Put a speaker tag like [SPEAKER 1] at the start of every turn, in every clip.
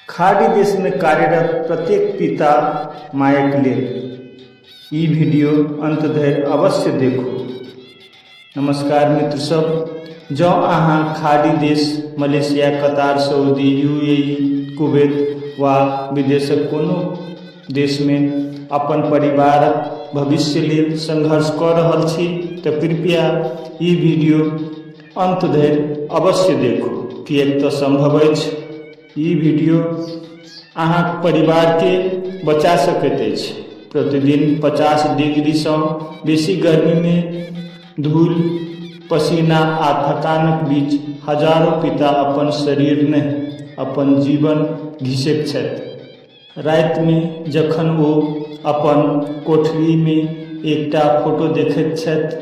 [SPEAKER 1] खाड़ी देश में कार्यरत प्रत्येक पिता मायक लेल ई वीडियो अंत धरि अवश्य देखू नमस्कार मित्र सब जँ अहाँ खाड़ी देश Malaysia Qatar Saudi UAE Kuwait वा विदेशक कोनो देश में अपन परिवारक भविष्य लेल संघर्ष कऽ रहल छी तऽ कृपया ई वीडियो अन्त धरि अवश्य देखू किएक तऽ सम्भव अछि ई वीडियो अहाँक परिवारके बचा सकैत अछि प्रतिदिन पचास डिग्रीसँ बेसी गर्मीमे धूल पसीना आ थकानक बीच हजारो पिता अपन शरीर नहि अपन जीवन घिसैत छथि रातिमे जखन ओ अपन कोठरीमे एकटा फोटो देखैत छथि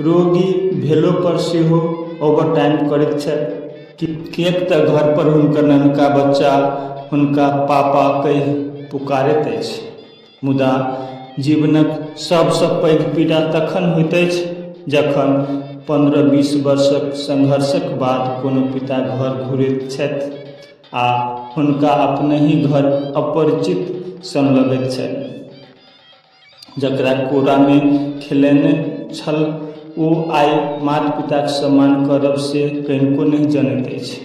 [SPEAKER 1] रोगी भेलो पर सेहो ओवर टाइम करैत छथि किएक तऽ घर पर हुनकर नन्हका बच्चा हुनका पापा कहि पुकारैत अछि मुदा जीवनक सबसँ पैघ पीड़ा तखन होइत अछि जखन पन्द्रह बीस वर्षक संघर्षक बाद कोनो पिता घर घुरैत छथि आ हुनका अपनहि घर अपरिचित सन लगैत छनि जकरा कोरामे खेलेने छल ओ आइ मात पिताक सम्मान करब से कनिको नहि जनैत अछि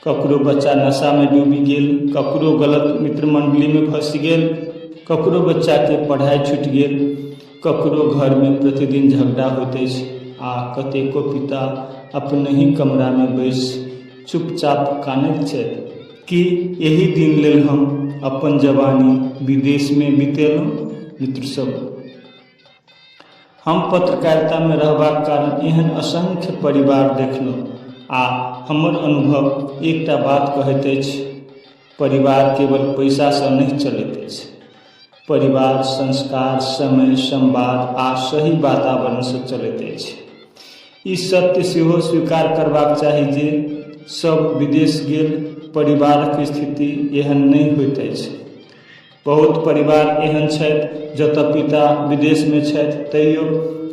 [SPEAKER 1] ककरो बच्चा नशामे डूबि गेल ककरो गलत मित्र मण्डलीमे फँसि गेल ककरो बच्चाके पढ़ाइ छुटि गेल ककरो घरमे प्रतिदिन झगड़ा होइत अछि आ कतेको पिता अपनहि कमरामे बैसि चुपचाप कानैत छथि कि एहि दिन लेल हम अपन जवानी विदेशमे बितेलहुँ मित्र सभ हम पत्रकारितामे रहबाक कारण एहन असंख्य परिवार देखलहुँ आ हमर अनुभव एकटा बात कहैत अछि परिवार केवल पैसासँ नहि चलैत अछि परिवार संस्कार समय संवाद आ सही वातावरण से चलैत अछि ई सत्य सेहो स्वीकार करबाक चाही जे सब विदेश गेल परिवारक स्थिति एहन नहि होइत अछि बहुत परिवार एहन छथि जतऽ पिता विदेश मे छथि तैयो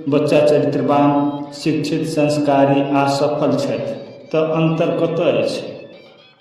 [SPEAKER 1] बच्चा चरित्रवान शिक्षित संस्कारी आ सफल छथि तऽ अन्तर कतऽ अछि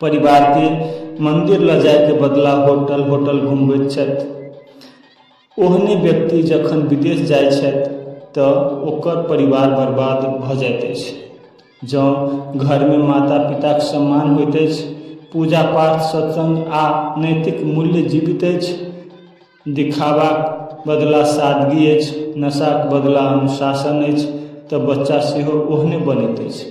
[SPEAKER 1] परिवारके मन्दिर लऽ जाइके बदला होटल होटल घुमबैत छथि ओहने व्यक्ति जखन विदेश जाइ छथि तऽ ओकर परिवार बर्बाद भऽ जाइत अछि जँ घरमे माता पिताके सम्मान होइत अछि पूजा पाठ सत्सङ्ग आओर नैतिक मूल्य जीवित अछि देखाबाके बदला सादगी अछि नशाके बदला अनुशासन अछि तऽ बच्चा सेहो ओहने बनैत अछि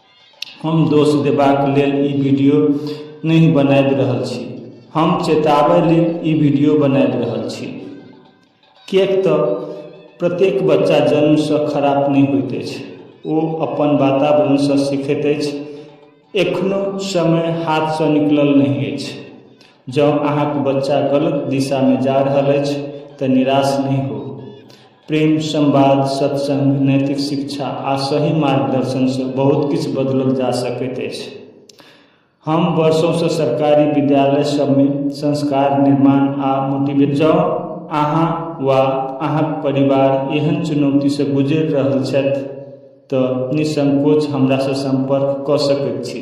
[SPEAKER 1] हम दोष देबाक लेल ई वीडियो नहि बनाबि रहल छी हम चेताबै लेल ई वीडियो बनाबि रहल छी किएक तऽ प्रत्येक बच्चा जन्मसँ खराब नहि होइत अछि ओ अपन वातावरणसँ सीखैत अछि एखनो समय हाथसँ निकलल नहि अछि जँ अहाँके बच्चा गलत दिशामे जा रहल अछि तऽ निराश नहि होउ प्रेम संवाद सत्संग नैतिक शिक्षा आ सही मार्गदर्शन से बहुत किछु बदलल जा सकैत अछि हम वर्षों से सरकारी विद्यालय सबमे संस्कार निर्माण आ मोटिवेट जँ अहाँ वा अहाँक परिवार एहन चुनौती से गुजरि रहल छथि तऽ निःसंकोच हमरा से सम्पर्क कऽ सकैत छी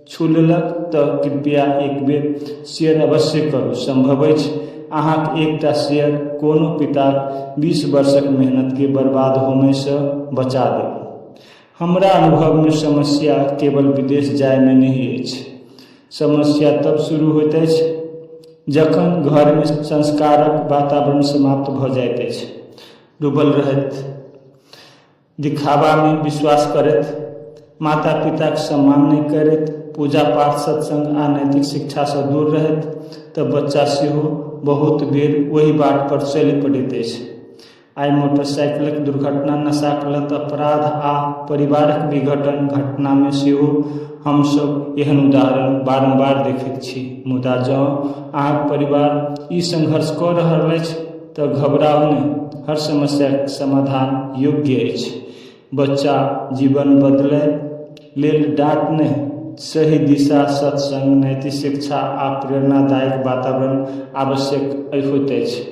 [SPEAKER 1] छू लेलक तऽ कृपया एक बेर शेयर अवश्य करू सम्भव अछि अहाँक एकटा शेयर कोनो पिताक बीस वर्षक मेहनतके बर्बाद होमयसँ बचा देत हमरा अनुभवमे समस्या केवल विदेश जायमे नहि अछि समस्या तब शुरू होइत अछि जखन घरमे संस्कारक वातावरण समाप्त भऽ जाइत अछि डूबल रहैत दिखाबामे विश्वास करैत, माता-पिताक सम्मान नहि करैत, पूजा-पाठ, सत्संग आ नैतिक शिक्षासँ दूर रहैत तँ बच्चा सेहो बहुत बेर ओहि बाटपर चलि पड़ैत अछि। आइ मोटरसाइकिलक दुर्घटना, नशाक लत, अपराध आ परिवारक विघटन घटनामे सेहो हम सभ एहन उदाहरण बारम्बार देखैत छी। मुदा जँ अहाँक परिवार ई संघर्ष कऽ रहल अछि, तऽ घबराउ नहि हर समस्याके समाधान योग्य अछि बच्चा जीवन बदलै लेल डाँट नहि सही दिशा सत्सङ्ग नैतिक शिक्षा आ प्रेरणादायक वातावरण आवश्यक होइत अछि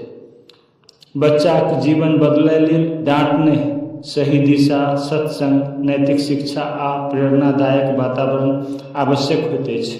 [SPEAKER 1] बच्चाके जीवन बदलै लेल डाँट नहि सही दिशा सत्सङ्ग नैतिक शिक्षा आ प्रेरणादायक वातावरण आवश्यक होइत अछि